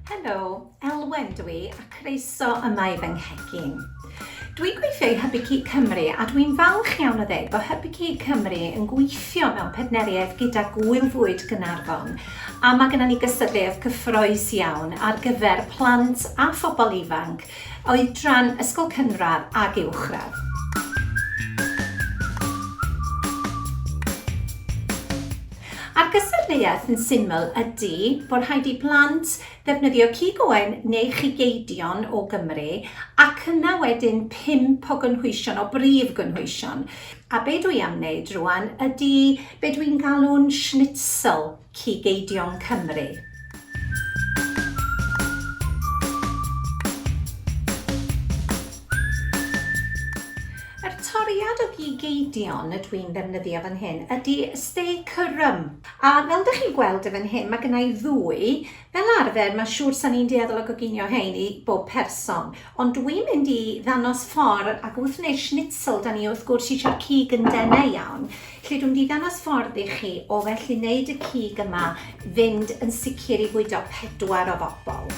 Helo, Elwen dw i a croeso yma i fy nghegin. Dwi'n gweithio i Hybu Cig Cymru a dwi'n falch iawn o ddweud bod Hybu Cig Cymru yn gweithio mewn partneriaeth gyda Gŵyl Fwyd Gaernarfon a mae gennym ni gystadleuaeth cyffroes iawn ar gyfer plant a phobl ifanc Oedran, ysgol cynradd ag uwchradd. A'r gystadleuaeth yn syml ydy bod rhaid i blant ddefnyddio cig oen neu chigeidion o Gymru ac yna wedyn pump o gynhwysion, o brif gynhwysion. A be dwi am wneud rŵan ydy be dwi'n galw'n schnitzel. Cigeidion Cymru. Yr toriad o gigeidion y dwi'n ddefnyddio fan hyn ydy stay cyrrym. A fel dych chi'n gweld y fan hyn, mae gennau ddwy. Fel arfer, mae'n siŵr sa'n ni'n dueddol o goginio hein i bob person. Ond dwi'n mynd i ddangos ffordd, ac wrth wneud schnitzel, da ni wrth gwrs eisiau'r cig yn denau iawn, lle dwi'n mynd i ddangos ffordd i chi o felly wneud y cig yma fynd yn sicr i fwydo pedwar o bobl.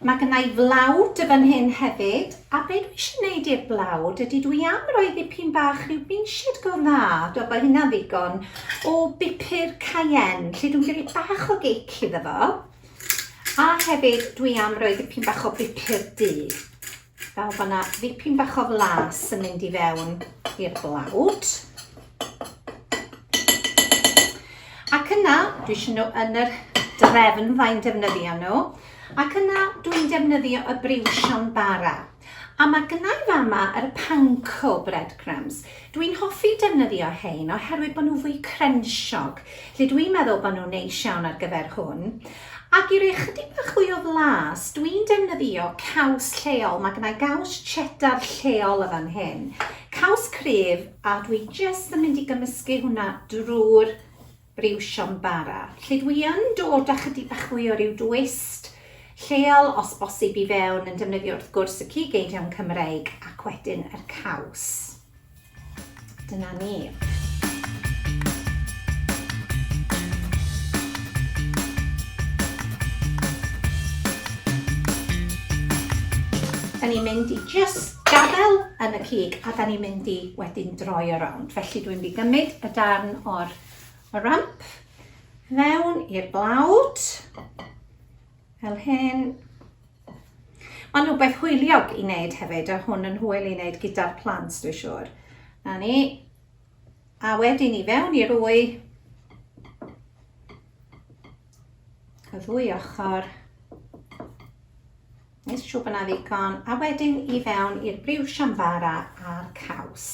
Mae gynna i flawd y fan hyn hefyd, a be dwi eisiau wneud i'r blawd ydy dwi am roi ddipyn bach rhyw benched go dda, dwi'n bod hynna'n ddigon, o bupur cayenne, lle dwi'n gyrru bach o gic iddo fo. A hefyd dwi am roi ddipyn bach o bupur du. Nawr bod yna ddipyn bach o flas yn mynd i fewn i'r blawd. Ac yna, dwi eisiau nhw yn yr drefn fai'n defnyddio nhw. Ac yna, dwi'n defnyddio y briwsion bara. A mae gynnau i fama yr panko breadcrumbs. Dwi'n hoffi defnyddio hein oherwydd bod nhw fwy crensiog. Lle dwi'n meddwl bod nhw'n neis iawn ar gyfer hwn. Ac i roi chydig bach fwy o flas, dwi'n defnyddio caws lleol. Mae gennau gaws cheddar lleol y fan hyn. Caws cryf, a dwi jyst yn mynd i gymysgu hwnna drwy'r briwsion bara. Lle dwi yn dod â chydig bach fwy o ryw dwist lleol os bosib i fewn yn defnyddio wrth gwrs y cig eidion Cymreig ac wedyn yr caws. Dyna ni. Dan ni'n mynd i jyst gadael yn y cig a dan ni'n mynd i wedyn droi o rownd. Felly dwi'n mynd i gymryd y darn o'r ramp fewn i'r blawd. Fel hyn. Mae'n rhywbeth hwyliog i wneud hefyd, a hwn yn hwyl i wneud gyda'r plant, dwi'n siŵr. Na ni. A wedyn i fewn i'r wy. Y ddwy ochr. Nes siŵr bod yna ddigon. A wedyn i fewn i'r briw siambara a'r caws.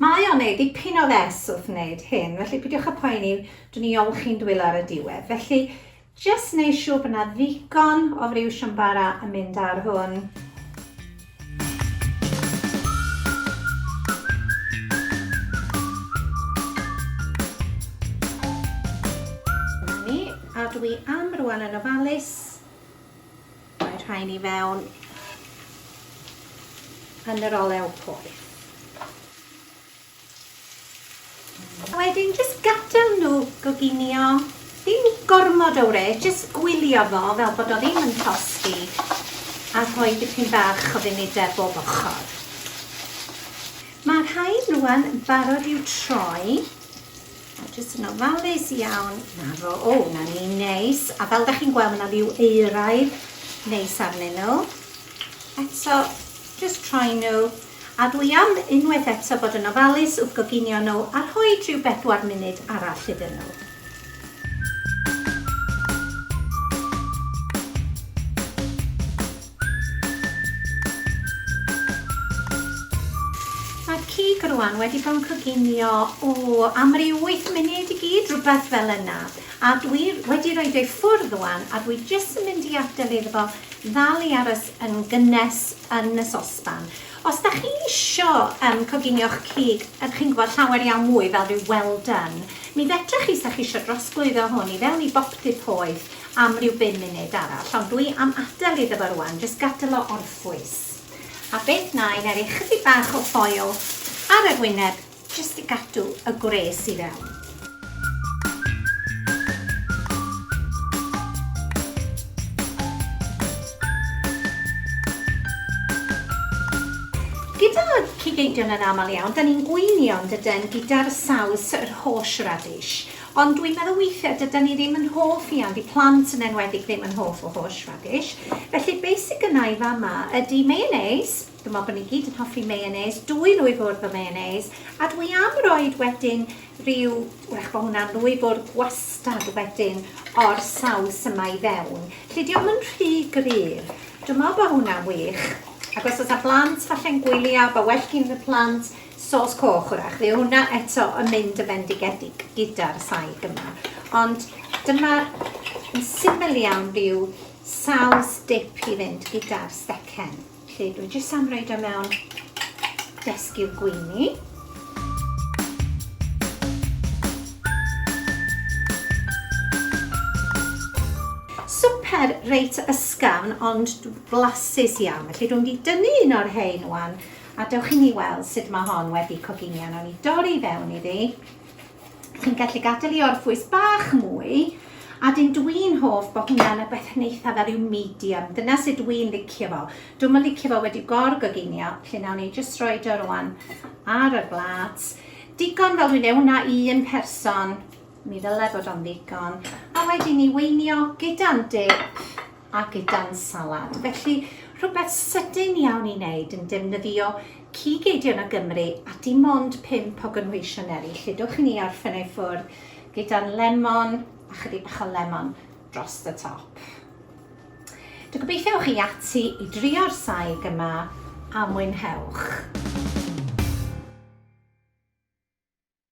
Mae o'n neud dipyn o fes wrth wneud hyn, felly pidiwch y poeni, dwi'n i olchi'n dwylo ar y diwedd. Felly, Jyst neu siwr bod 'na ddigon o friw siambara yn mynd ar hwn. cadw i am rwan yn ofalus. Mae rhain i fewn yn yr olew poeth. A wedyn jyst gadael nhw goginio, ddim gormod o wres, jyst gwylio fo fel bod o ddim yn tosti a rhoi dipyn bach o funudau bob ochr. Mae'r rhain rwan yn barod i'w troi, a jyst yn ofalus iawn, na fo, o na ni, neis, a fel da chi'n gweld mae na liw euraidd neis arnyn nhw. Eto jyst troi nhw, A dwi am unwaith eto bod yn ofalus wrth goginio nhw a rhoid rhyw bedwar munud arall iddyn nhw. Mae'r cig rwan wedi bod yn coginio, o, am ryw wyth munud i gyd, rhywbeth fel yna. A dwi wedi rhoid o i ffwrdd rwan a dwi jyst yn mynd i adael iddo fo ddal i aros yn gynnes yn y sosban. Os dach chi isio um, coginio'ch cig, ydych chi'n gwybod, llawer iawn mwy fel rhyw well done, mi fedrwch chi, sa'ch isio drosglwyddo hwn i fewn i bopty poeth am rhyw bum munud arall, ond dwi am adael iddo fo rwan, jyst gadael o orffwys. A beth na i, na i roi chydig bach o ffoil ar yr wyneb Jyst i gadw y gwres i fewn. Gyda cig eidion yn aml iawn, da ni'n gweinio yn dyden gyda'r saws yr hosh radish, ond dwi'n meddwl weithiau dyda ni ddim yn hoff iawn, di plant yn enwedig ddim yn hoff o hosh radish, felly be sy gynna i fama ydi mayonnaise, Dw i'n meddwl bod ni gyd yn hoffi mayonnaise, dwyn nhw i ffwrdd o mayonnaise, a dw i am roid wedyn rhyw, wrach bod hwnna'n ddwy fwrdd gwastad wedyn o'r saws yma i fewn. Lly diolch yn rhy gryf. Dwi'n meddwl bod hwnna'n wych. Ac os oes a blant falle'n gwylio, bod well gyn y plant sos coch wrach. Fydd hwnna eto yn mynd yn fendigedig gyda'r saig yma. Ond dyma yn syml iawn rhyw saws dip i fynd gyda'r stecen. Lle dwi jyst am roid o mewn desgiw gweini. Swper reit ysgafn ond flasus iawn. Felly dwi'n mynd i dynnu un o'r rhein wan a dewch i ni weld sut mae hon wedi coginio. Nawn ni dorri fewn iddi. Chi'n gallu gadael i orffwys bach mwy, a dyn dwi'n hoff bod hwnna'n y beth yn eithaf ar yw medium. Dyna sut dwi'n licio fo. Dwi'n yn licio fo wedi gorgoginio, lle nawn ni jyst roi o rwan ar y blat. Digon fel dwi'n ewn na un person, mi ddyle bod o'n ddigon. A wedyn ni weinio gyda'n dip a gyda'n salad. Felly, rhywbeth sydyn iawn i wneud yn defnyddio cig eidion o Gymru a dim ond pump o gynhwysion eraill. Lludwch i ni ar ffynau ffwrdd gyda'n lemon a chydig bach o lemon dros y top. Dwi'n gobeithio ewch chi ati i drio'r saig yma a mwynhewch.